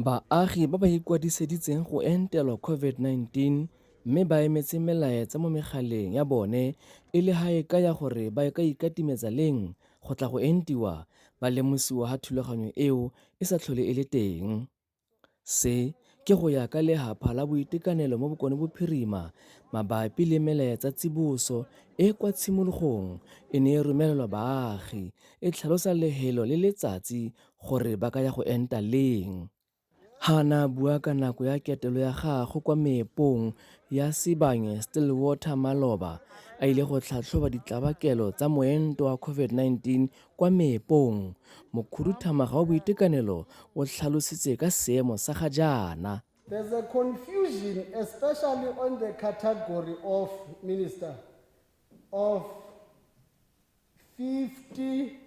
Baagi ba ba ikwadiseditseng go entelwa COVID-19 mme ba emetse melaetsa mo megaleng ya bone e le ga e ka ya gore ba ka ikatimetsa leng go tla go entiwa ba lemosiwa ga thulaganyo eo e sa tlhole e le teng. Se ke go ya ka Lehapha la Boitekanelo mo Bokone Bophirima mabapi le melaetsa tsiboso e kwa tshimologong e ne e romelelwa baagi e tlhalosa lehelo le letsatsi gore ba ka ya go enta leng. Hana bua ka nako ya ketelo ya gagwe kwa meepong ya Sibanye Stillwater Maloba a ile go tlhatlhoba ditlabakelo tsa moento wa COVID-19 kwa meepong. Mokhuduthamaga wa boitekanelo o tlhalositse ka seemo sa ga jaana. There's a confusion especially on the category of minister of 50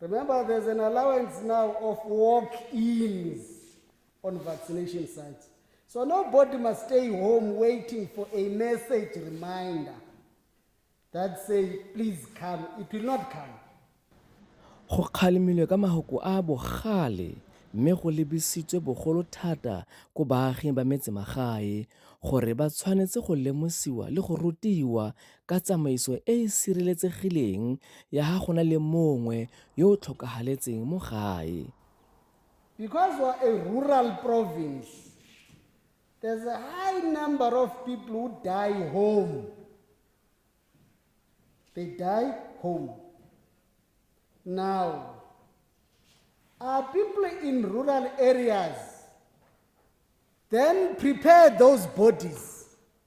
Remember, there's an allowance now of walk-ins on vaccination sites. So nobody must stay home waiting for a message reminder that say, please come. It will not come. go kgalemilwe ka mahoko a bogale mme go lebisitswe bogolo thata ko baaging ba metsemagae gore ba tshwanetse go lemosiwa le go rutiwa ka tsamaiso e e sireletsegileng ya ga go na le mongwe yo o tlhokahaletseng mo gae. Because we're a rural province, there's a high number of people who die home. They die home. Now, are people in rural areas then prepare those bodies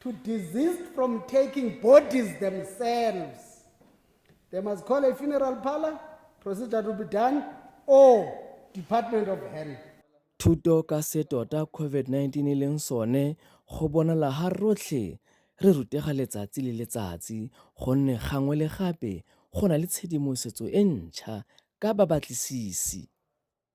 to desist from taking bodies themselves. They must call a funeral parlor, procedure to be done, or Department of Health. Thuto ka se tota COVID-19 e leng sone go bonala ga rotlhe re rutega letsatsi le letsatsi gonne gangwe le gape go na le tshedimosetso e ntšha ka babatlisisi.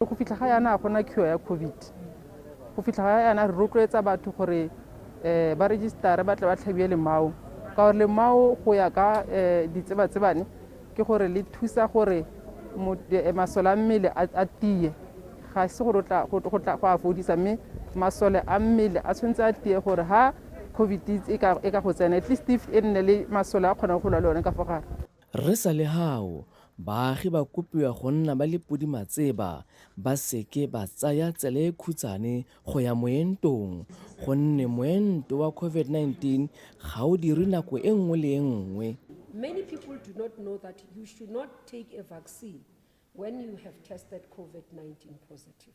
Go fitlha ga yana ga gona cure ya COVID. Go fitlha ga yana re rotloetsa batho gore um ba registare ba tle ba tlhabiwe lemao ka gore lemao go ya ka um ditsebatsebane ke gore le thusa gore masole a mmele a tiye ga se gore go a fodisa mme masole a mmele a tshwanetse a tiye gore ha covid e ka go tsena at least e nne le masole a kgonang go lwa le one ka fo gare Re sa le hao, baagi ba kopiwa go nna ba le podimatseba ba seke ba tsaya tsela e khutshane go ya moentong gonne moento wa COVID-19 ga o dirwe nako e nngwe le e nngwe. Many people do not know that you should not take a vaccine when you have tested COVID-19 positive.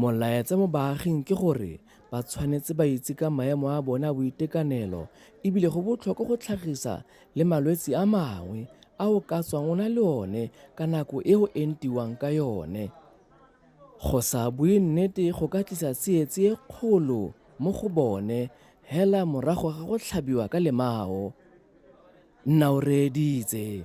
Molaetsa mo baaging ke gore ba tshwanetse ba itse ka maemo a bone a boitekanelo e bile go botlhokwa go tlhagisa le malwetse a mangwe a o ka tswang o na le one ka nako e o entiwang ka yone. Go sa bue nnete go ka tlisa tsietsi e kgolo mo go bone hela morago ga go tlhabiwa ka lemao, Nna o reeditse.